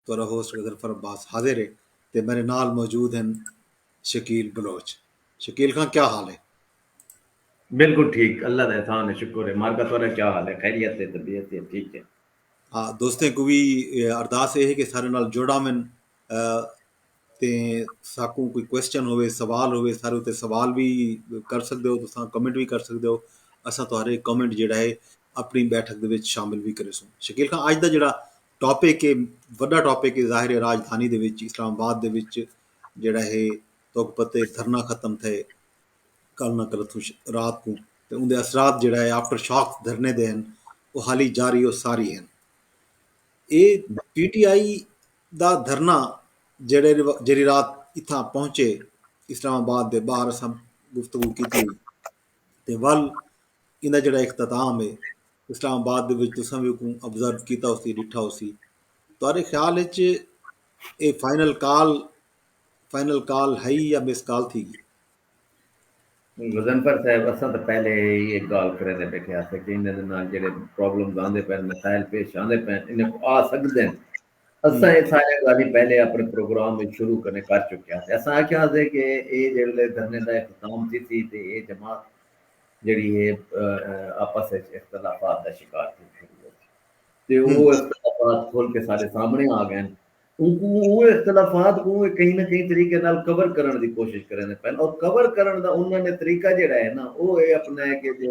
تہاڈا ہوسٹ غضنفر عباس حاضر ہے تے میڈے نال موجود ہن شکیل بلوچ۔ شکیل خاں کیا حال ہے؟ بالکل ٹھیک اللہ دا احسان ہے شکر ہے مارکا تہاڈا کیا حال ہے خیریت ہے طبیعت ہے ٹھیک ہے۔ ہا دوستیں کوں وی ارداس اے ہے کہ سارے نال جڑ آون تے ساکوں کوئی کوسچن ہووے سوال ہووے سارے اتے سوال وی کر سکدے ہو تساں کمنٹ وی کر سکدے ہو اساں تہاڈے کمنٹ جیڑا ہے اپنی بیٹھک دے وچ شامل وی کریسوں۔ شکیل خاں اج دا جیڑا ٹاپک ہے وڈا ٹاپک ہے ظاہر ہے راجدھانی دے وچ اسلام آباد دے وچ جڑا ہے توک پتہ ہے دھرنا ختم تھے کل نہ کل اتھوں رات کو تے اون دے اثرات جڑا ہے آفٹر شاک دھرنے دے ہیں او حالی جاری او ساری ہیں اے پی ٹی آئی دا دھرنا جڑے جڑی رات اتھاں پہنچے اسلام آباد دے باہر اساں گفتگو کیتی تے ول ایندا جیڑھا اختتام ہے اسلام آباد دے وچ تساں وی اوکوں ابزرو کیتا ہوسی ݙٹھا ہوسی تہاݙے خیال وچ اے فائنل کال فائنل کال ہئی یا مس کال تھی گی نہیں غضنفر صاحب اساں تاں پہلے ہی ایک گال کریندے بیٹھے ہاسے کہ انہاں دے نال جیڑھے پرابلمز آندے پئن مسائل پیش آندے پئن انہاں کوں آ سڳدن اساں اے ساریاں گالھیں پہلے اپݨے پروگرام اچ شروع کنے کر چکے ہاسے۔ اساں آکھیا ہاسے کہ اے جیڑھلے دھرنے دا اختتام تھیسی تے اے جماعت جیڑھی ہے آپس اچ اختلافات دا شکار تھی کھڑی ہوسی تے او اختلافات کھل کے ساڈے سامنے آ گئن۔ اونکوں اوہ اختلافات کوں اے کہیں نہ کہیں طریقے نال کور کرݨ دی کوشش کریندے پئن اور کور کرݨ دا انہاں نے طریقہ جیڑھا ہے نا او اے اپݨا ہے کہ جے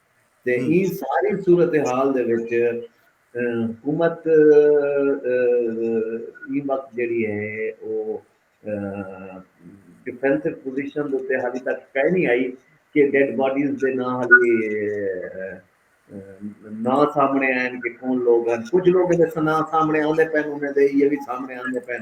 تے ایں ساری صورتحال دے وچ حکومت ایں وقت جیڑھی ہے او ڈیفینسو پوزیشن دے اتے حالی تک کائے نی آئی کہ ڈیڈ باڈیز دے ناں حالی ناں سامنے آئن کہ کون لوگ ہن کجھ لوگاں دے ناں سامنے آندے پئن انہیں دے ایہہ وی سامنے آندے پئن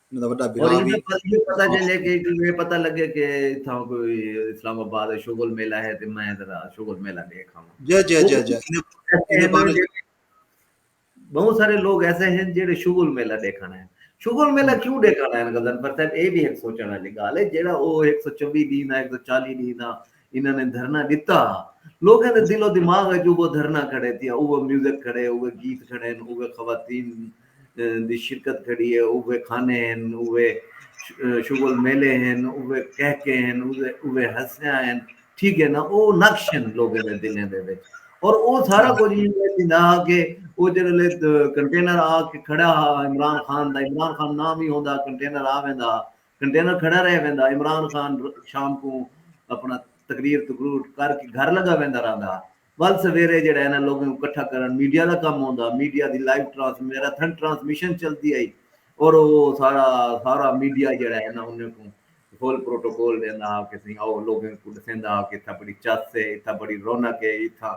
انہاں دا وݙا بھرا وی اور انہاں دا پتہ چلے کہ یہ پتہ لگے کہ اتھاں کوئی اسلام آباد شغل میلہ ہے تے میں ذرا شغل میلہ دیکھ آواں جی جی جی جی بہت سارے لوگ ایسے ہیں جڑے شغل میلہ دیکھنا ہے شغل میلہ کیوں دیکھنا ہے غزن پر صاحب اے بھی ایک سوچن والی گال ہے جڑا او 124 دین ہے 140 دین ہے انہاں نے دھرنا ڈتا ہا۔ لوکاں دے دل و دماغ اچ اوہو دھرنا کھڑے تھیا، اوہو میوزک کھڑے، اوہے گیت کھڑے ہن، اوہے خواتین دی شرکت کھڑی ہے، اوہے کھانے ہن، اوہے شغل میلے ہن، اوہے کہکے ہن، اوہے ہنسیاں ہن، ٹھیک ہے نا، او نقش ہن لوکاں دے دلیں دے وچ۔ اور او سارا کجھ ایویں پئے تھیندا ہا کہ او جیڑھے ویلے کنٹینر آ کے کھڑا ہا عمران خان دا، عمران خان نام ہی ہوندا ہا کنٹینر آ ویندا ہا، کنٹینر کھڑا رہ ویندا عمران خان شام کوں اپنا تقریر تقرور کر کے گھر لگا ویندا رہندا ول سویرے جیڑھا انہاں لوگاں کوں کٹھا کرن میڈیا دا کم ہوندا میڈیا دی لائیو ٹرانس میراتھن ٹرانسمیشن چلدی ہئی اور او سارا سارا میڈیا جیڑھا ہے نا انہاں کوں فل پروٹوکول ڈیندا ہا کہ سائیں آؤ لوگاں کوں ڈسیندا ہا کہ اتھا بڑی چس ہے اتھا بڑی رونق ہے اتھا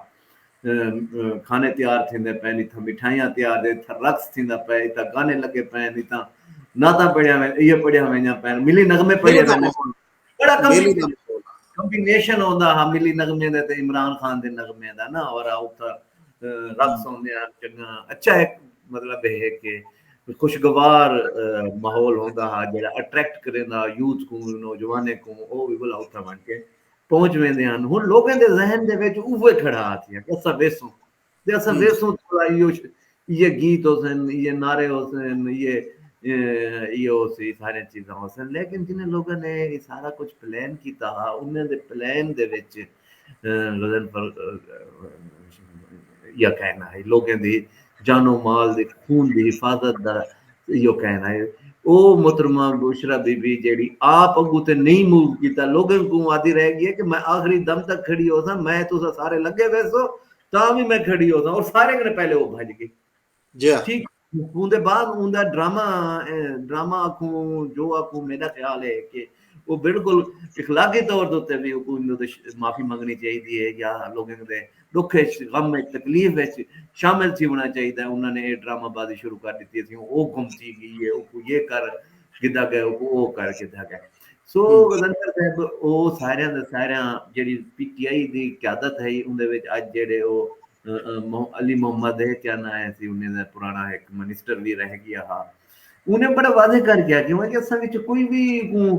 کھانے تیار تھیندے پئن اتھاں مٹھائیاں تیار دے اتھاں رقص تھیندا پئے اتھاں گانے لگے پئن اتھاں نعتاں پڑھیاں وین ایہ پڑھیاں وینیاں پئن ملی نغمے پڑھے ویندے بڑا کمبینیشن ہوندا ہا ملی نغمے دے تے عمران خان دے نغمے دا نا اور اتھا رقص ہوندے ہن چنگا اچھا ایک مطلب ہے کہ خوشگوار ماحول ہوندا ہا جڑا اٹریکٹ کریندا یوتھ کو نوجوانیں کو او وی بلا اتھا ون کے پہنچ ویندے ہن ہن لوکاں دے ذہن دے وچ اوہے کھڑا تھیا کہ اساں ویسوں تے اساں ویسوں تے بھلا ایہو یہ گیت ہوسن یہ نعرے ہوسن یہ یہ ہوسی سارے چیزاں ہوسن لیکن جنہیں لوکاں نے یہ سارا کچھ پلان کیتا ہا انہاں دے پلان دے وچ غضنفر ایہا کہنڑا ہئی۔ لوکیں دی جان و مال دے خون دی حفاظت دا ایہا کہنڑا ہئی۔ او محترمہ بشریٰ بی بی جیہڑی آپ اگوں تے نئیں موو کیتا لوکیں کوں آہدی رہ گئی کہ میں آخری دم تک کھڑی ہوساں میں تساں سارے لگے ویسو تاں وی میں کھڑی ہوساں اور سارے کنوں پہلے او بھج گئی۔ جیا ٹھیک ہوں دے بعد اون دا ڈرامہ ڈرامہ آکھوں جو آکھوں میرا خیال ہے کہ وہ بالکل اخلاقی طور دے اوتے وی اون دے معافی منگنی چاہی دی ہے یا لوگوں دے دکھ وچ غم وچ تکلیف وچ شامل تھی ہونا چاہی دا انہاں نے اے ڈرامہ بازی شروع کر دیتی ہے او گم تھی گئی ہے او یہ کر گدا گئے او او کر گدا گئے سو غزنفر صاحب او سارے دے سارے جڑی پی ٹی آئی دی قیادت ہے اون دے وچ اج جڑے او علی محمد اے کیا ناں اے سی انہیں دا پرانا ہک منسٹر وی رہ گیا ہا انہیں بڑا واضح کر گیا کہ ہوں کہ اساں وچ کوئی وی کوں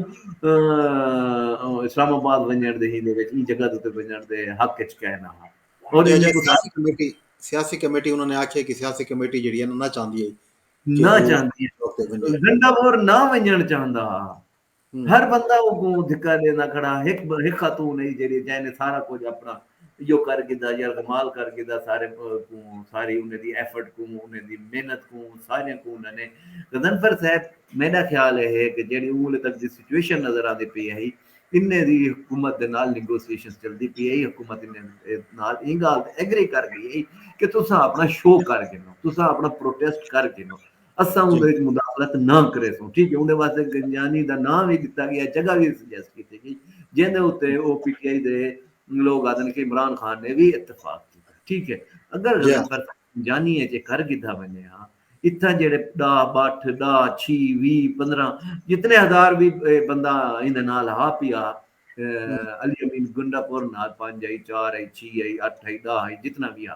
اسلام آباد ونجن دے ہی دے وچ ای جگہ تے ونجن دے حق وچ کہہ نہ ہا اور سیاسی کمیٹی سیاسی کمیٹی انہوں نے آکھیا کہ سیاسی کمیٹی جڑی ہے نہ چاہندی ہے نہ چاہندی ہے گنڈا اور نہ ونجن چاہندا ہا ہر بندہ اوکوں دھکا ݙیندا کھڑا ہک ہک خاتون ہئی جیڑھی جئیں نے سارا کجھ اپݨا ایہو کر گھدا یرغمال کر گھدا سارے کوں ساری انہیں دی ایفرٹ کوں انہیں دی محنت کوں ساریاں کوں انہاں نے غضنفر صاحب میݙا خیال اے ہے کہ جیڑھی اوں ویلے تک دی سچویشن نظر آندی پئی ہئی انہیں دی حکومت دے نال نیگوسیشنز چلدی پئی ہئی حکومت انہیں دے نال ایں ڳالھ تے ایگری کر ڳئی ہئی کہ تساں اپݨا شو کر گھنو تساں اپݨا پروٹیسٹ کر گھنو اساں اوندے وچ مداخلت نہ کریسوں، ٹھیک ہے، اوندے واسطے گنجانی دا ناں وی ݙتا ڳیا، جگہ وی سجیسٹ کیتی ڳئی، جیندے اتے او پی ٹی آئی دے لوک آہدن کہ عمران خان نے وی اتفاق کیتا، ٹھیک ہے، اگر غضنفر صاحب گنجانی اچ اے کر گھدا ویندے ہاں، اتھاں جیڑھے ݙاہ ٻٹھ، ݙاہ، چھی، ویہہ، پندرھاں جتنے ہزار وی بندہ ایندے نال ہا پیا علی امین گنڈا پور نال پنج ہئی، چار ہئی، چھی ہئی، اٹھ ہئی، ݙاہ ہئی، جتنا وی ہا،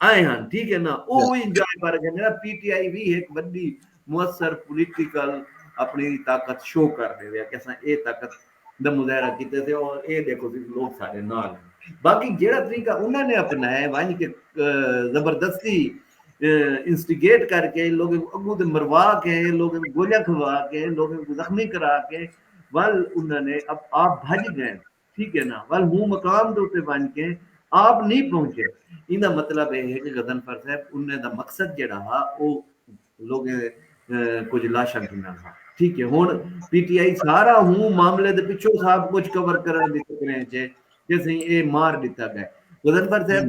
آئے ہن ٹھیک ہے نا او وی انجوائے کر رکھے نے پی ٹی آئی وی ہک وڈی موثر پولیٹیکل اپنی طاقت شو کر دے وے کہ اساں اے طاقت دا مظاہرہ کیتے تھے اور اے دیکھو سی لوگ سارے نال باقی جیڑا طریقہ انہاں نے اپنائے ونج کے زبردستی انسٹیگیٹ کر کے لوگ اگو تے مروا کے لوگ گولیاں کھوا کے لوگ زخمی کرا کے ول انہاں نے اب آپ بھج گئے ٹھیک ہے نا ول ہوں مقام دے اتے ونج کے آپ نی پہنچے ایندا مطلب اے ہے کہ غضنفر صاحب انہیں دا مقصد جیڑا ہا او لوگیں دے کچھ لاشاں گھننا ہا ٹھیک ہے ہن پی ٹی آئی سارا ہوں معاملے دے پچھو صاحب کچھ کور کرن دی فکریں چے کہ سہی اے مار ڈتا گئے غضنفر صاحب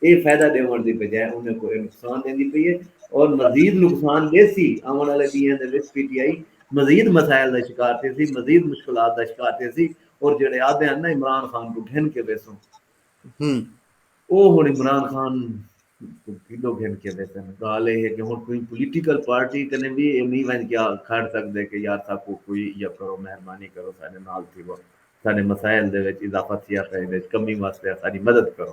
اے فائدہ ڈیونڑ دی بجائے انہیں کو اے نقصان ڈیندی پئی اے اور مزید نقصان ڈیسی، آونڑ آلے ڈینھاں دے وچ پی ٹی آئی مزید مسائل دا شکار تھیسی، مزید مشکلات دا شکار تھیسی اور جیڑھے آدھے ہن نا عمران خان کوں گھن کے ویسوں او ہنڑ عمران خان کوں کیڈو گھن کے ویسن، گالھ اے ہے کہ ہنڑ کوئی پولیٹیکل پارٹی کنیں وی اے نی ونج کے کھڑ سگدے کہ یار ساکوں کوئی ایہا کرو مہربانی کرو ساڈے نال تھیوو، ساڈے مسائل دے وچ اضافہ تھیا پئے ایں دے وچ کمی واسطے اساڈی مدد کرو۔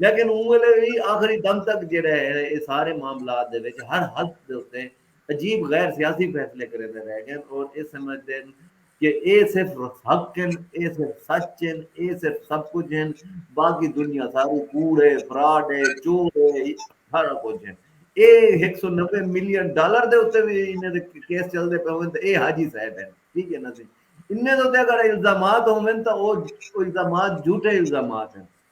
لیکن اوں ویلے وی آخری دم تک جیہڑا ہے اے سارے معاملات دے وچ ہر حلف دے اتے عجیب غیر سیاسی فیصلے کریندے رہ گئن اور اے سمجھدن کہ اے صرف حق ہن، اے صرف سچ ہن، اے صرف سب کجھ ہن، باقی دنیا ساری کوڑ اے، فراڈ اے، چور اے، سارا کجھ ہن۔ اے ہک سو نوے ملین ڈالر دے اتے وی انہاں دے کیس چلدے پئے ہوون تاں اے حاجی صاحب ہن، ٹھیک ہے نا جی۔ انہاں دے اتے اگر الزامات ہوون تاں او الزامات جھوٹے الزامات ہن۔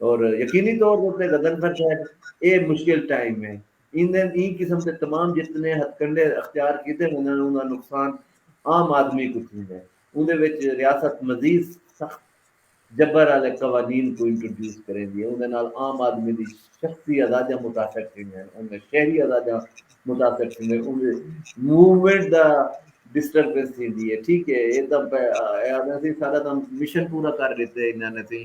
اور یقینی طور تے اتے غضنفر صاحب اے مشکل ٹائم اے ایندن ایں قسم دے تمام جتنے ہتھکنڈے اختیار کیتے ونجن اوندا نقصان عام آدمی کوں تھیندے اوندے وچ ریاست مزید سخت جبر آلے قوانین کوں انٹروڈیوس کریندی اے اوندے نال عام آدمی دی شخصی آزادیاں متاثر تھیندین اوندیاں شہری آزادیاں متاثر تھیندین اوندے موومنٹ دا ڈسٹربنس تھیندی اے ٹھیک اے اے تاں اے آکھدے اسی ساڈا تاں مشن پورا کر ڈتے انہاں نے تیں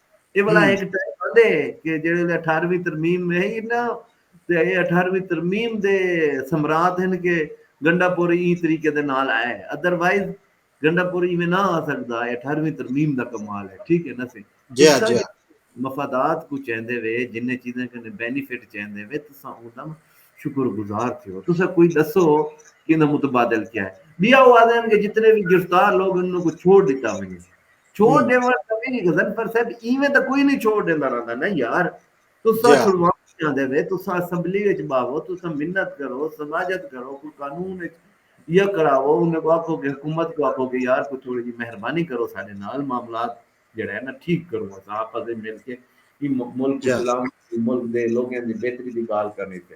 اے بھلا ہک ٹائم آندے کہ جیڑھے ویلے اٹھارویں ترمیم وہی نا تے اے اٹھارویں ترمیم دے ثمرات ہن کہ گنڈا پور ایں طریقے دے نال آیا ہے ادر وائز گنڈا پور ایویں نہ آ سکدا اے اٹھارویں ترمیم دا کمال ہے ٹھیک ہے نا سی جی ہاں جی ہاں مفادات کو چیندے وے جن چیزیں کنے بینیفٹ چیندے وے تسا اوندا شکر گزار تھیو تسا کوئی دسو کہ اندا متبادل کیا ہے بیا وہ آدھے کہ جتنے بھی گرفتار لوگ انہوں کو چھوڑ دیتا ہوئے چھوڑ ڈیوݨ دا وی غضنفر صاحب ایویں تاں کوئی نی چھوڑ ڈیندا رہندا نا یار تساں چھڑواوݨ چاہندے وے تساں اسمبلی وچ ٻاہو تساں منت کرو سماجت کرو کوئی قانون وچ یا کراوو انہاں کوں آکھو کہ حکومت کوں آکھو کہ یار کوئی تھوڑی جی مہربانی کرو ساݙے نال معاملات جیڑھا ہے نا ٹھیک کرو اساں آپس وچ مل کے ایں ملک اسلام ملک دے لوکیں دی بہتری دی ڳالھ کرݨی تے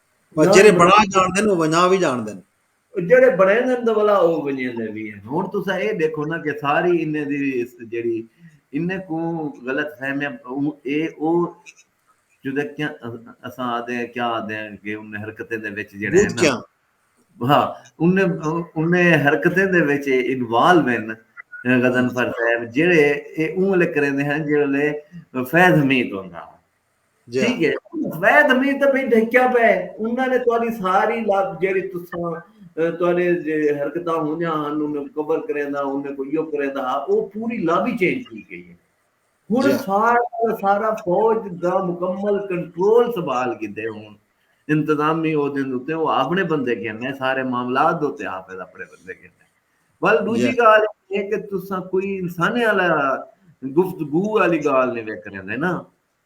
او جیڑھے جان بݨا جاݨدن او ونڄا وی جاݨدن۔ او جیڑھے بݨیندن تاں ولا او ونڄیندے وی ہن۔ ہݨ تساں اے ݙیکھو نا کہ ساری انھیں دی جیڑھی انھیں کوں غلط فہمیاں اوں اے او چدکیاں اساں آہدے ہیں کیا آہدے ہیں کہ انھیں حرکتیں دے وچ جیڑھے ہیں نا ہاں انھیں انھیں حرکتیں دے وچ انوالو ہن غضنفر صاحب جیڑھے اے اوں ویلے کریندے ہن جیڑھے ویلے فیض حمید ہوندا ہا۔ ٹھیک ہے زید حمید تے پھر ڈھکیا پے انہاں نے تہاڈی ساری لب جیڑی تساں تہاڈے جے حرکتاں ہونیاں ہن انہاں کو کور کریندا انہاں کو یو کریندا ہا او پوری لب ہی چینج تھی گئی ہے ہن سارا سارا فوج دا مکمل کنٹرول سنبھال گدے ہن انتظامی او دین اتے او اپنے بندے گھن سارے معاملات دے اتے حافظ اپنے بندے گھن ول ڈوجھی گال ہے کہ تساں کوئی انسانی والا گفتگو والی گال نہیں ویک رہندے نا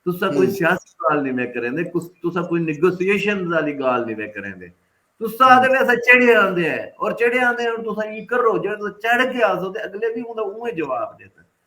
تساں کوئی سیاسی گال نہیں ویک رہندے تساں کوئی نیگوسیشن والی گال نہیں ویک رہندے تساں آدھے وے اساں چڑھے آندے ہیں اور چڑھے آندے ہیں تساں یہ کرو جڑے تساں چڑھ کے آسو تے اگلے بھی انہاں اوہ جواب دیتا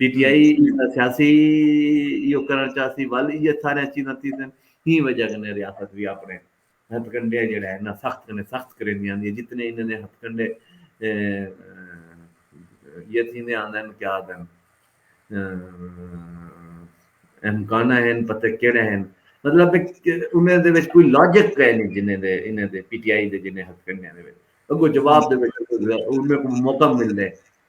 پی ٹی آئی سیاسی ایو کرنڑ چاہسی ول ایہ ساریاں چیزاں تھیسن ہی وجہ کنے ریاست وی آپنڑے ہتھ کنڈے جیڑا ہے نا سخت کنے سخت کریندی آندی ہے جتنے انہاں نے ہتھ کنڈے یہ تھیندے آندن کیا آدن امکانہ ہیں پتہ کیڑے ہیں مطلب انہیں دے وچ کوئی لاجک کہے نہیں جنہیں دے انہیں دے پی ٹی آئی دے جنہیں ہتھ کنڈے ہیں دے وچ اگو جواب دے وچ انہیں کو موقع مل دے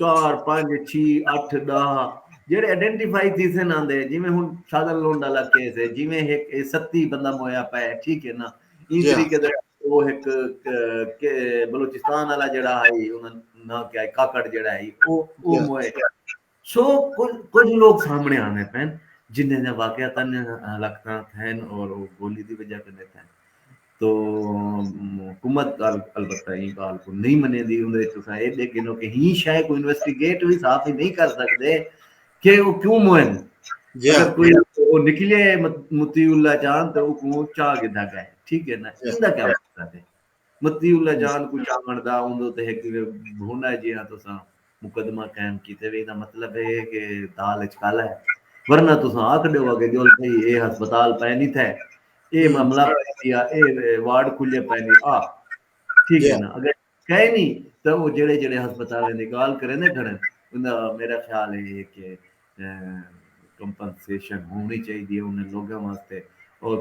چار پنج چھی اٹھ ڈاہ جیڑے ایڈینٹیفائی تھیسن آندے جیویں ہن سادھن لونڈ والا کیس ہے جیویں ہک اے ستی بندہ مویا پئے ہے ٹھیک ہے نا ایں طریقے دا او ہک بلوچستان والا جیڑا ہئی انہاں نا کیا کاکڑ جیڑا ہئی او او موئے سو کجھ لوگ سامنے آندے پئن جنھاں دیاں واقعات ہلاکتاں تھئن اور او گولی دی وجہ کنیں تھئن تو حکومت البتہ ایں گالھ کوں نئیں منیندی اوندے وچ تساں ایہ ڈیکھ گھنو کہ ایں شے کوں انویسٹیگیٹ وی صاف ہی نئیں کر سگدے کہ او کیوں موئن اگر کوئی او نکلے مطیع اللہ چاہن تے اوکوں چا گھدا گئے ٹھیک ہے نا ایندا کیا مقصد ہے مطیع اللہ جان کوں چاوݨ دا اوندے اتے ہک بھونا جیہاں تساں مقدمہ قائم کیتے وی ایندا مطلب ایہ ہے کہ دال اچ کالا ہے ورنہ تساں آکھ ݙیوا کہ ڄل سہی ایہ ہسپتال پئے نی تھئے ایہ معاملہ پئے تھیا ایہ وارڈ کھلئے پئے نی آ ٹھیک ہے نا اگر کئے نی تاں او جیڑھے جیڑھے ہسپتالیں دی ڳالھ کریندے کھڑن اندا میݙا خیال ایہ ہے کہ کمپنسیشن ہووݨی چاہیدی ہے انھیں لوگاں واسطے اور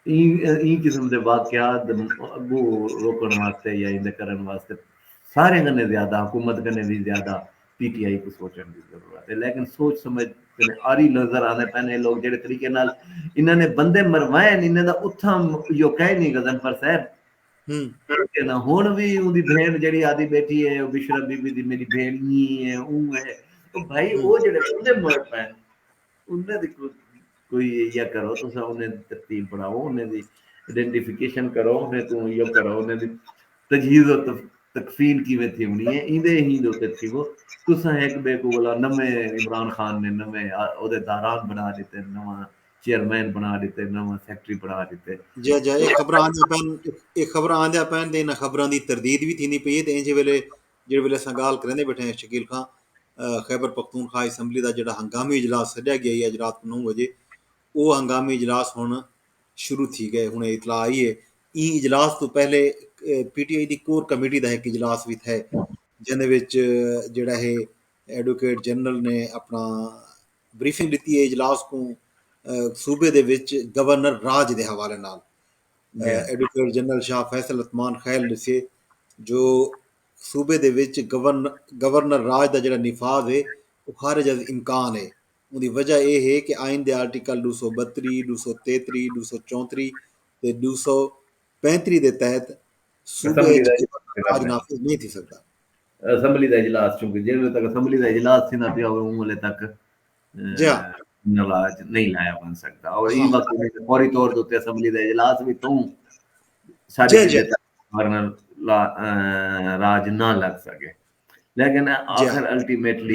ایں قسم دے واقعات اگو روکݨ واسطے یا ایندے کرݨ واسطے ساریں کنے زیادہ حکومت کنے وی زیادہ پی ٹی آئی کوں سوچݨ دی ضرورت ہے لیکن سوچ سمجھ کنے آری نظر آندے پئن اے لوگ جیڑھے طریقے نال انہاں نے بندے مروائن انہاں دا اتھاں یو کائنی غضنفر صاحب ہن ہن وی اوندی بھین جیڑھی آدی بیٹھی ہے او بشرا بی بی دی میڈی بھین نی ہے اوں ہے او بھائی او جیڑھے بندے مر پین انہاں دی کوئی یا کرو تساں انہاں دی ترتیب بناؤ انہاں دی آئیڈینٹیفیکیشن کرو انہاں کوں یا کرو انہاں دی تجہیز و تکفین کیویں تھیونی ہے ایندے ہی دے اوتے تھیو تساں ہک بے کو ولا نویں عمران خان نے نویں او دے داران بنا دیتے نواں چیئرمین بݨا ݙتے، نواں سیکرٹری بݨا ݙتے۔ جی جی اے خبراں آندیاں پئن اے خبراں آندیاں پئن تے انہاں خبراں دی تردید وی تھیندی پئی اے تے اینجھے ویلے جیڑھے ویلے اساں ڳالھ کریندے بیٹھے ہیں شکیل خاں خیبر پختونخوا اسمبلی دا جیڑھا ہنگامی اجلاس سݙیا ڳیا ہئی اڄ رات کوں نو وڄے او ہنگامی اجلاس ہݨ شروع تھی ڳئے ہݨ اطلاع آئی اے ایں اجلاس توں پہلے پی ٹی آئی دی کور کمیٹی دا ہک اجلاس وی تھئے جیندے وچ جیڑھا ہے ایڈوکیٹ جنرل نے اپݨا بریفنگ ݙتی اے اجلاس کوں صوبے دے وچ گورنر راج دے حوالے نال ایڈوکیٹ جنرل شاہ فیصل عثمان خیل ݙسے جو صوبے دے وچ گورنر راج دا جیڑھا نفاذ اے او خارج از امکان اے اوندی وجہ اے ہے کہ آئین دے آرٹیکل ݙو سو ٻتری، ݙو سو تیتری، ݙو سو چونتری تے ݙو سو پینتری دے تحت صوبے اچ گورنر راج نافذ نئیں تھی سڳدا۔ اسمبلی دا اجلاس چونکہ جیں ویلے تک اسمبلی دا اجلاس تھیندا پیا ہووے اوں ویلے تک نلا اچ نہیں لایا ونج سگدا اور ایں وقت فوری طور تے اسمبلی دا اجلاس وی توں ساڈے گورنر راج نہ لگ سکے لیکن آخر الٹیمیٹلی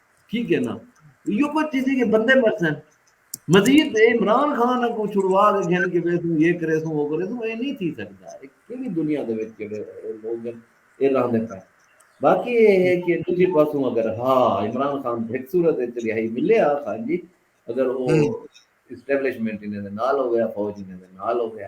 کی کہنا ایو کوئی چیزیں کہ بندے مرسن مزید عمران خان کو چھڑوا کے گھن کے ویسوں یہ کرے سوں وہ کرے سوں اے نہیں تھی سکتا ہے کیڑی دنیا دے وچ جڑے لوگ ہیں اے رہندے پے باقی اے ہے کہ دوسری پاسوں اگر ہاں عمران خان ایک صورت وچ رہائی ملے آ خان جی اگر وہ اسٹیبلشمنٹ انہاں دے نال ہو گیا فوج انہاں دے نال ہو گیا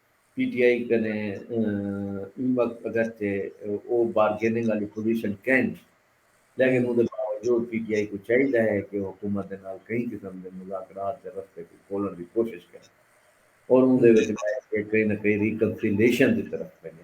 پی ٹی آئی کنے ایں وقت اگرچہ او بارگیننگ آلی پوزیشن کین لیکن اوندے باوجود پی ٹی آئی کوں چاہیدا ہے کہ او حکومت دے نال کہیں قسم دے مذاکرات دے رستے کوں کھولݨ دی کوشش کرے اور اوندے وچ بیٹھ کے کہیں نہ کہیں ریکنسیلیشن دی طرف ونڄے۔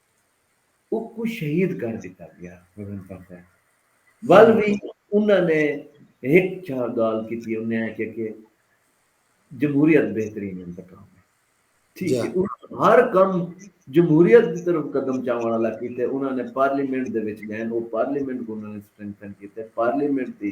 اکوں شہید کر ڈتا گیا ول وی انہاں نے ہک چھا گال کیتی انہاں نے آکھیا کہ جمہوریت بہترین انتقام ہے ٹھیک ہے انہاں ہر کم جمہوریت دی طرف قدم چاون والا کیتے انہاں نے پارلیمنٹ دے وچ گئے او پارلیمنٹ کوں انہاں نے سٹرینتھن کیتے پارلیمنٹ دی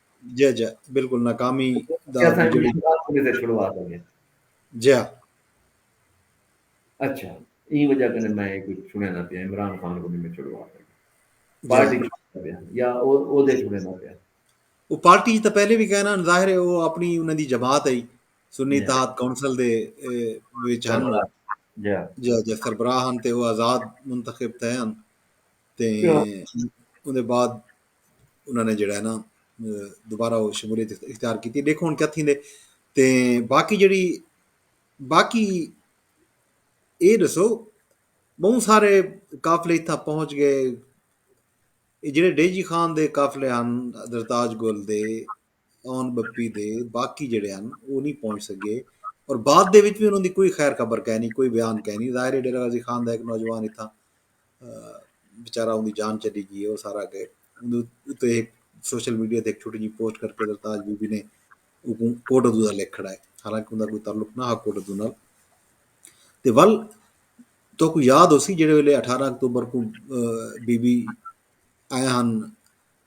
جی جی بالکل ناکامی جی اچھا این وجہ کنے میں کوئی چھڑے نہ پیا عمران خان کو میں چھڑوا پیا پارٹی چھڑے پیا یا او دے چھڑے نہ پیا وہ پارٹی تو پہلے بھی کہنا ظاہر ہے وہ اپنی انہوں دی جماعت ہے سنی جی۔ اتحاد کونسل دے وچ ہن جی جی جی سربراہ ہن تے وہ آزاد منتخب تھے ہن تے ان دے بعد انہوں نے جڑا ہے نا دوبارہ وہ شمولیت اختیار کی دیکھو ہوں کیا تھیں دے تے باقی جڑی باقی اے دسو بہت سارے قافلے اتنا پہنچ گئے جڑے ڈیجی خان دے قافلے ہن درتاج گل دے اون بپی دے باقی جڑے ہن او نہیں پہنچ سگے اور بعد دے وچ بھی انہوں دی کوئی خیر خبر کہہ نہیں کوئی بیان کہہ نہیں ظاہر ہے ڈیرہ غازی خان دا ایک نوجوان اتھا بیچارہ ان دی جان چلی گئی ہے وہ سارا کہ اتنے ایک سوشل میڈیا تے ایک چھوٹی جی پوسٹ کر کے درتاج بی بی نے کوٹ ادو دا لکھ کھڑا ہے حالانکہ ان کا کوئی تعلق نہ ہا کوٹ ادو نال تے ول تو کو یاد ہو سی جڑے ویلے اٹھارہ اکتوبر کو بی بی آئے ہن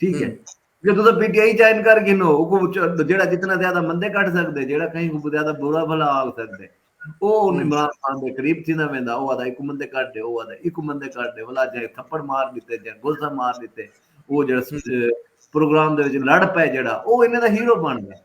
ٹھیک ہے کہ تسا پی ٹی آئی جوائن کر گھنو او جیڑا جتنا زیادہ مندے کڈھ سکدے جیڑا کہیں کو زیادہ برا بھلا آکھ سکدے او عمران خان دے قریب تھیندا ویندا او آدا ایکو مندے کڈھ دے او آدا ایکو مندے کڈھ دے ولا جے تھپڑ مار ڈتے جے گلزہ مار ڈتے او جیڑا پروگرام دے وچ لڑ پے جیڑا او انہاں دا ہیرو بن گیا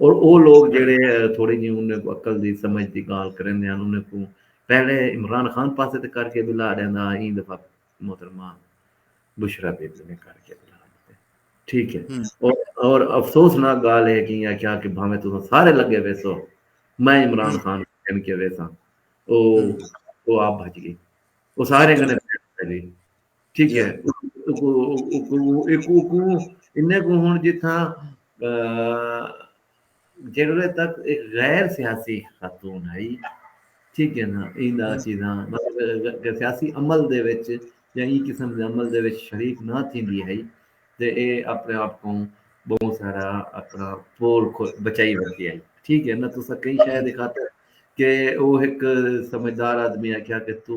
اور او لوگ جیڑھے تھوڑی جی انہیں کوں عقل دی سمجھ دی گالھ کریندے ہن انہیں کوں پہلے عمران خان پاسے تے کر کے بلا ڈیندا ہا ایں دفعہ محترمہ بشرا بی بی نے کر کے بلا ڈتے ٹھیک ہے اور افسوس ناک گالھ ہے کہ یہ کیا کہ بھاویں تساں سارے لگے ویسو میں عمران خان کن کے ویساں او او آپ بھج گئی او سارے کنے بھج گئی ٹھیک ہے انہیں کو ہن جتھا جڑوے تک ایک غیر سیاسی خاتون ہے ٹھیک ہے نا این دا چیزاں مطلب سیاسی عمل دے وچ یا ای قسم دے عمل دے وچ شریک نہ تھیندی ہے تے اے اپنے آپ کو بہت سارا اپنا پول بچائی ورتی ہے ٹھیک ہے نا تو سا کئی شاید خاطر کہ او ایک سمجھدار آدمی آکھیا کہ تو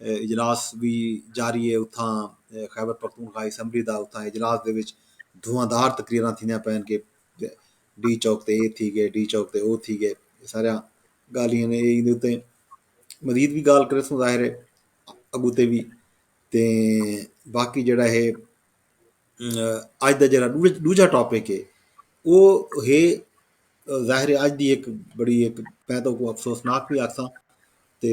اجلاس وی جاری اے اتھاں خیبر پختونخوا اسمبلی دا اتھاں اجلاس دے وچ دھواں دار تقریراں تھیندیاں پئن کہ ڈی چوک تے اے تھی گئے ڈی چوک تے او تھی گئے اے ساریاں گالھیاں نے اے ایندے اتے مزید وی گالھ کریسوں ظاہر اے اگو تے وی تے باقی جیڑا اے اج دا جیڑا ڈوجا ٹاپک اے او ہے ظاہر اج دی ایک بڑی ایک میں تو افسوسناک وی آکھساں تے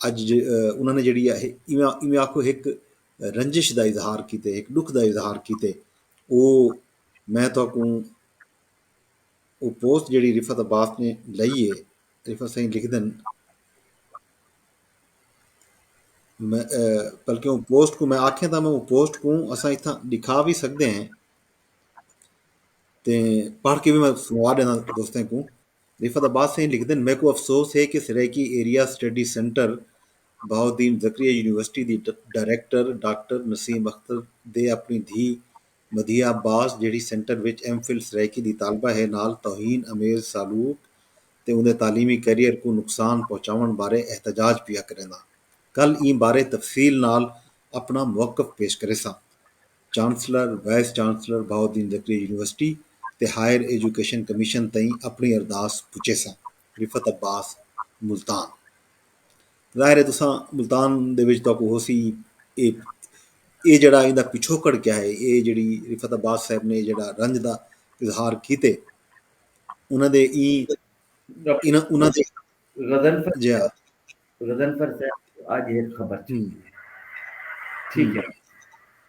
اڄ انہاں نے جیڑھی ہے ایویں آکھو ہک رنجش دا اظہار کیتے ہک ڈکھ دا اظہار کیتے او میں تہاکوں او پوسٹ جیڑھی رفت عباس نے لئی ہے رفت سائیں لکھ دن بلکہ وہ پوسٹ کو میں آکھیں تھا میں وہ پوسٹ کو اسا اتھا دکھا بھی سکتے ہیں تے پڑھ کے بھی میں سنوا دینا دوستیں کو رفعت عباس سئیں لکھدن میکوں افسوس ہے کہ Saraiki area study centre Bahauddin Zakariya university دی ڈائریکٹر ڈاکٹر نسیم اختر دے اپݨی دھی مدیحہ عباس جیڑھی سنٹر وچ ایم فل سرائیکی دی طالبہ ہے نال توہین آمیز سالوک تے اوندے تعلیمی کیریئر کوں نقصان پہنچاوݨ بارے احتجاج پیا کرینداں کل ایں بارے تفصیل نال اپݨا موقف پیش کریساں۔ Chancellor, vice chancellor Bahauddin Zakariya university تے ہائر ایجوکیشن کمیشن تئیں اپنڑی ارداس پچیسن، رفعت عباس ملتان۔ ظاہر ہے تساں ملتان دے وچ تہاکوں ہوسی اے اے جیڑھا ایندا پچھوکڑ کیا ہے اے جیڑھی رفعت عباس صاحب نے جیڑھا رنج دا اظہار کیتے انہاں دے ایں انہاں انہاں دے غزل جیہا غضنفر صاحب اج ہک خبر ٹھیک ہے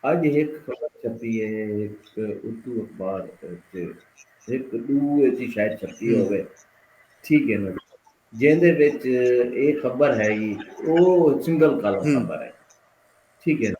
اج ہک خبر چھپی ہے ہک اردو اخبار تے ہک دو ایسی شاید چھپی ہوے ٹھیک ہے نا جیندے وچ اے خبر ہے او سنگل کالم خبر ہے ٹھیک ہے نا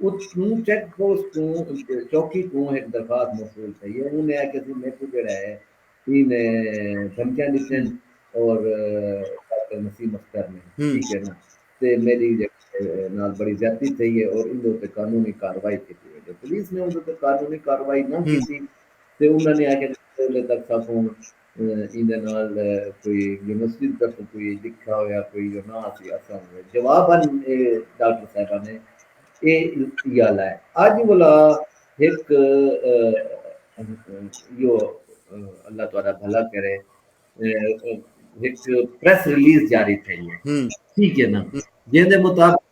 اتھوں چیک پوسٹ توں چوکی کوں ہک درخواست موصول تھئی اے انہیں آکھیا سی میکوں جیڑھا اے ایں نے دھمکیاں ڈتین اور ڈاکٹر نسیم اختر نے ٹھیک اے نا تے میڈی نال بڑی زیادتی تھئی اے اور ایندے اتے قانونی کاروائی کیتی ویندے پولیس نے اوندے اتے قانونی کاروائی نہ کیتی تے انہاں نے آکھیا جے تیلے تک ساکوں ایندے نال کوئی جو مسجد دا توں کوئی لکھا ہویا کوئی جو ناں اسی اساں ہوئے جواب اج اے ڈاکٹر صاحبہ نے اے یا لائے اج ولا ہک یو اللہ تعالی بھلا کرے ہک پریس ریلیز جاری تھئی ہے ٹھیک ہے نا جیندے مطابق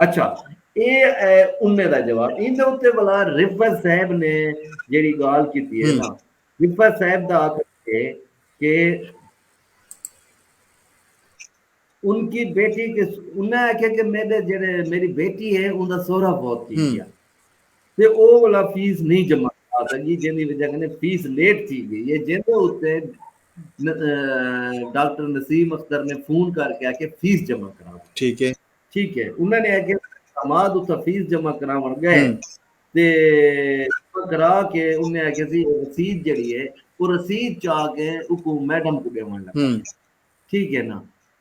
اچھا اے اے امے دا جواب این دے اتے بلا رفت صاحب نے جیڑی گال کی تھی ہے نا رفت صاحب دا آتا ہے کہ ان کی بیٹی کے انہیں آکھے کہ میرے جیڑے میری بیٹی ہے ان دا سورہ بہت کی گیا تے او اولا فیس نئیں جمع کرا سگی جیندی وجہ کنیں فیس لیٹ تھی گئی اے جیندے اتے ڈاکٹر نسیم اختر نے فون کر کے آکھیا فیس جمع کرا ٹھیک اے ٹھیک اے انہاں نے آکھیا احمد اتھا فیس جمع کراون گئے تے کرا کے انہاں نے آکھیا سی رسید جڑی اے او رسید چا کے اوکو میڈم کو ڈیون لگا ٹھیک اے نا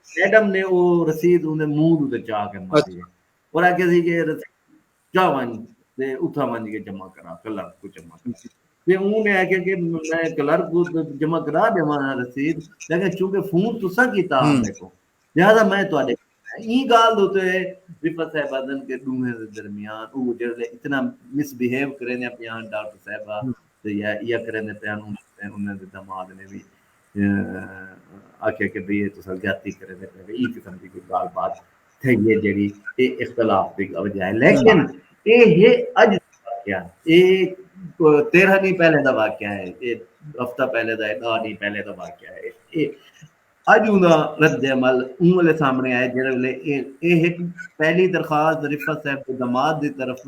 میڈم نے او رسید انہاں دے منہ تے چا کے ماری اور آکھیا سی کہ رسید جا ونج تے اتھاں ونج کے جمع کرا کلرک کو جمع کرا تے اوں نے آکھیا کہ میں کلرک کو جمع کرا ڈیواں ہاں رسید لیکن چونکہ فون تساں کیتا ہا میکوں لہذا میں تہاڈے ایں گال دے تے رفعت صاحبہ دن کے ڈوہیں دے درمیان او جڑے اتنا مس بیہیو کریندے پیاں ڈاکٹر صاحبہ تے یا یا کریندے پیاں انہاں دے دماغ نے وی آکھیا کہ بھئی اے تساں زیادتی کریندے پئے بھئی ایں قسم دی کوئی گالھ بات تھئی اے جیڑھی اے اختلاف دی وجہ اے لیکن اے ہے اج دا واقعہ اے تیرہ ݙینھ پہلے دا واقعہ اے اے ہفتہ پہلے دا اے ݙاہ ݙینھ پہلے دا واقعہ اے اے اج اوں دا رد عمل اوں ویلے سامݨے آئے جیڑھے ویلے اے ہک پہلی درخواست رفعت صاحب دے دماد دی طرف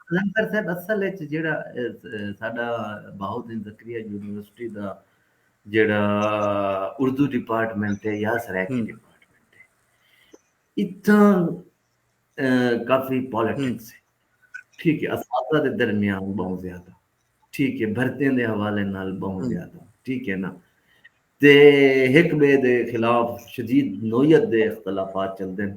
قلندر صاحب اصل اچ جیڑھا ساڈا بہاؤالدین زکریا یونیورسٹی دا جیڑھا اردو ڈیپارٹمنٹ ہے یا سرائیکی ڈیپارٹمنٹ ہے اتھاں کافی پالیٹکس ہے ٹھیک ہے اساتذہ دے درمیان بہت زیادہ ٹھیک ہے بھرتیاں دے حوالے نال بہت زیادہ ٹھیک ہے نا تے ہک بے دے خلاف شدید نوعیت دے اختلافات چلدے ہیں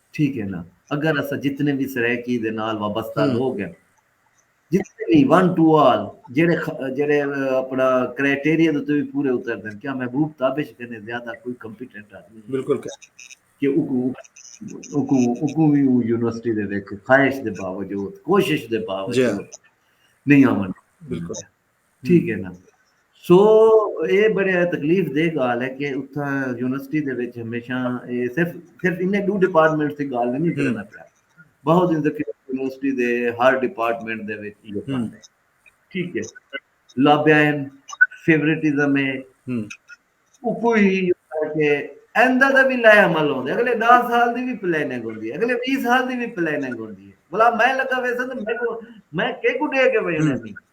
ٹھیک ہے نا اگر اسا جتنے وی سرائیکی دے نال وابستہ لوگ ہیں جتنے وی ون ٹو آل جڑے جڑے اپنا کرائٹیریا دے تو بھی پورے اتر دیں کیا محبوب تابش کنے زیادہ کوئی کمپیٹنٹ آدمی ہے بالکل کہ اکو اکو اکو بھی یونیورسٹی دے وچ خواہش دے باوجود کوشش دے باوجود جی۔ نہیں آون بالکل ٹھیک ہے نا سو اے بڑے تکلیف دے گال ہے کہ اتھا یونیورسٹی دے وچ ہمیشہ اے صرف صرف انہیں دو ڈپارٹمنٹ دی گال نہیں کرنا پیا بہت ان ذکر یونیورسٹی دے ہر ڈپارٹمنٹ دے وچ یہ پڑھ ہے ٹھیک ہے لابیائن فیوریٹزم ہے وہ کوئی ہی کہ ایندہ دا بھی لائے عمل ہوندے اگلے دا سال دی بھی پلیننگ ہوندی ہے اگلے بیس سال دی بھی پلیننگ ہوندی ہے بلا میں لگا ویسا تو میں کو میں کیکو دے کے ویسا نہیں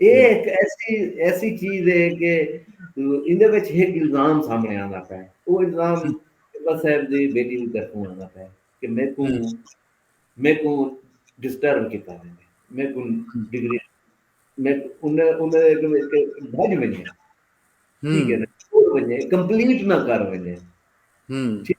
اے ہک ایسی ایسی چیز ہے کہ ایندے وچ ہک الزام سامنے آندا پیا ہے او الزام اللہ صاحب دی بیٹی دی طرفوں آندا پیا ہے کہ میکوں میکوں ڈسٹرب کیتا ہے میکوں ڈگری میں انہیں انہیں کہ بھج ونجے ٹھیک ہے نا چھوڑ ونجے کمپلیٹ نہ کر ونجے ٹھیک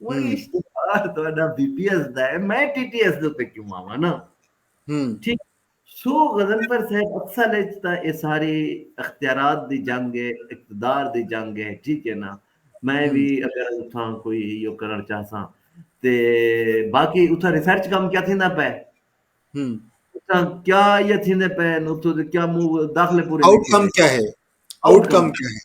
وہ اشتہار تہاڈا بی پی ایس دا ہے میں ٹی ٹی ایس دے تے کیوں آواں نا ٹھیک سو غزنفر صاحب اصل اچ تا اے ساری اختیارات دی جنگ ہے اقتدار دی جنگ ہے ٹھیک ہے نا میں بھی اگر اتھاں کوئی ایو کرن چاہساں تے باقی اتھاں ریسرچ کم کیا تھیندا پے اتھاں کیا یہ تھیندے پے اتھوں دے کیا منہ داخلے پورے آؤٹ کم کیا ہے آؤٹ کم کیا ہے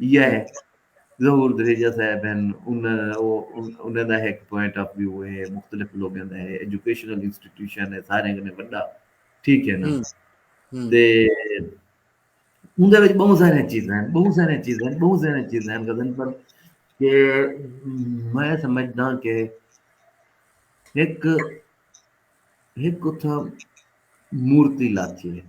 یہ ظہور دھریجہ صاحب ہیں انہاں دا ہک پوائنٹ آف ویو ہے مختلف لوگوں دا ہے ایجوکیشنل انسٹیٹیوشن ہے سارے کنے بڑا ٹھیک ہے نا تے اون دے وچ بہت سارے چیزاں ہیں بہت سارے چیزاں ہیں بہت سارے چیزاں ہیں غزن پر کہ میں سمجھدا کہ ایک ایک اتھا مورتی لاتی ہے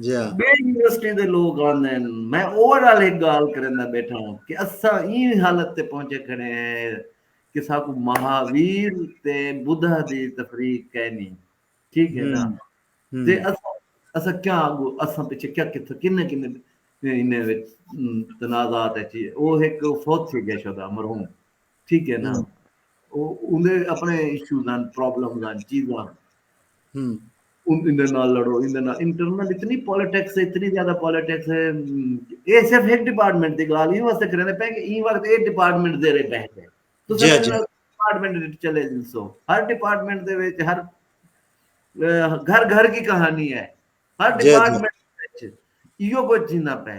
یونیورسٹی دے لوگ آندے میں اوور آل ایک گال کرندا بیٹھا ہوں کہ اساں این حالت تے پہنچے کھڑے ہیں کہ ساکو مہاویر تے بدھا دی تفریق کہہ نہیں ٹھیک ہے نا تے اساں اساں کیا آگو اساں پیچھے کیا کتھا کنے کنے انہیں تنازعات ہے چیئے وہ ایک فوت تھی گئے شدہ مرحوم ٹھیک ہے نا اوندے اپنے ایشوز ہیں پرابلمز ہیں چیزاں اندے نال لڑو اندے نال انٹرنل اتنی پولیٹکس ہے اتنی زیادہ پولیٹکس ہے اے صرف ایک ڈپارٹمنٹ دی گال ہی واسطے کرنے پے کہ این وقت اے ڈپارٹمنٹ دے رہے بہ گئے تو جی، جی۔ ڈپارٹمنٹ چلے جن سو ہر ڈپارٹمنٹ دے وچ ہر گھر گھر کی کہانی ہے ہر جی، ڈپارٹمنٹ وچ ایو کچھ جینا پے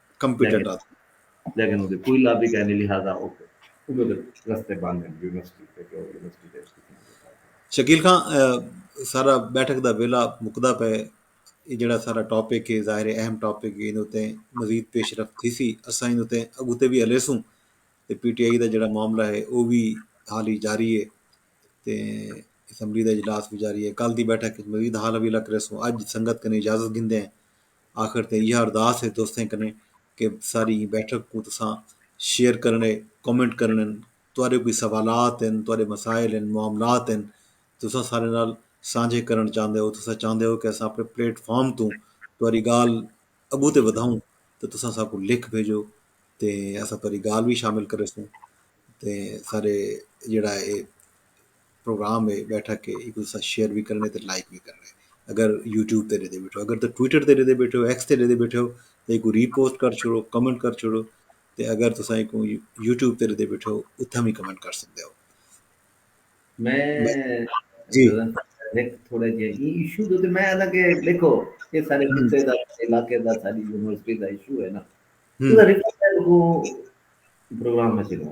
کمپیٹنٹ آدھے۔ لیکن اودے کوئی لابی کائنی لہذا او اودے تے رستے بند ہن یونیورسٹی تے کہ او یونیورسٹی تے اس قسم دے کام کرن۔ شکیل خاں سارا بیٹھک دا ویلا مکدا پئے اے جیڑھا سارا ٹاپک اے ظاہر اے اہم ٹاپک اے ایندے اتے مزید پیش رفت تھیسی اساں ایندے اتے اگوں تے وی ہلیسوں تے پی ٹی آئی دا جیڑھا معاملہ اے او وی حالی جاری اے تے اسمبلی دا اجلاس وی جاری اے کل دی بیٹھک اچ مزید حال حویلا کریسوں اج سنگت کنیں اجازت گھندے ہیں۔ آخر تے ایہا ارداس ہے دوستیں کنیں کہ ساری ایں بیٹھک کوں تساں شیئر کرنڑے کمنٹ کرنڑے تہاڈے کوئی سوالات ہن تہاڈے مسائل ہن معاملات ہن تساں سارے نال سانجھے کرنڑ چاہندے ہو تساں چاہندے ہو کہ اساں اپنڑے پلیٹ فارم توں تہاڈی گال اگوں تے ودھاؤں تے تساں ساکوں لکھ بھیجو تے اساں تہاڈی گال وی شامل کریسوں تے سارے جیہڑا اے پروگرام ہے بیٹھا کے ایک دوسرے ساتھ شیئر بھی کرنے تے لائک بھی کرنے اگر یوٹیوب تے ڈیدے بیٹھے ہو اگر تو ٹویٹر تے ڈیدے بیٹھے ہو ایکس تے ڈیدے بیٹھے ہو تے کو ری پوسٹ کر چھوڑو کمنٹ کر چھوڑو تے اگر تو سائیں کو یوٹیوب تے ڈیدے بیٹھے ہو اتھا بھی کمنٹ کر سکتے ہو میں جی ایک تھوڑا جی ایشو دو تے میں ادا کہ دیکھو یہ سارے خطے دا علاقے دا ساری یونیورسٹی دا ایشو ہے نا تو ریپورٹ کو پروگرام میں چلو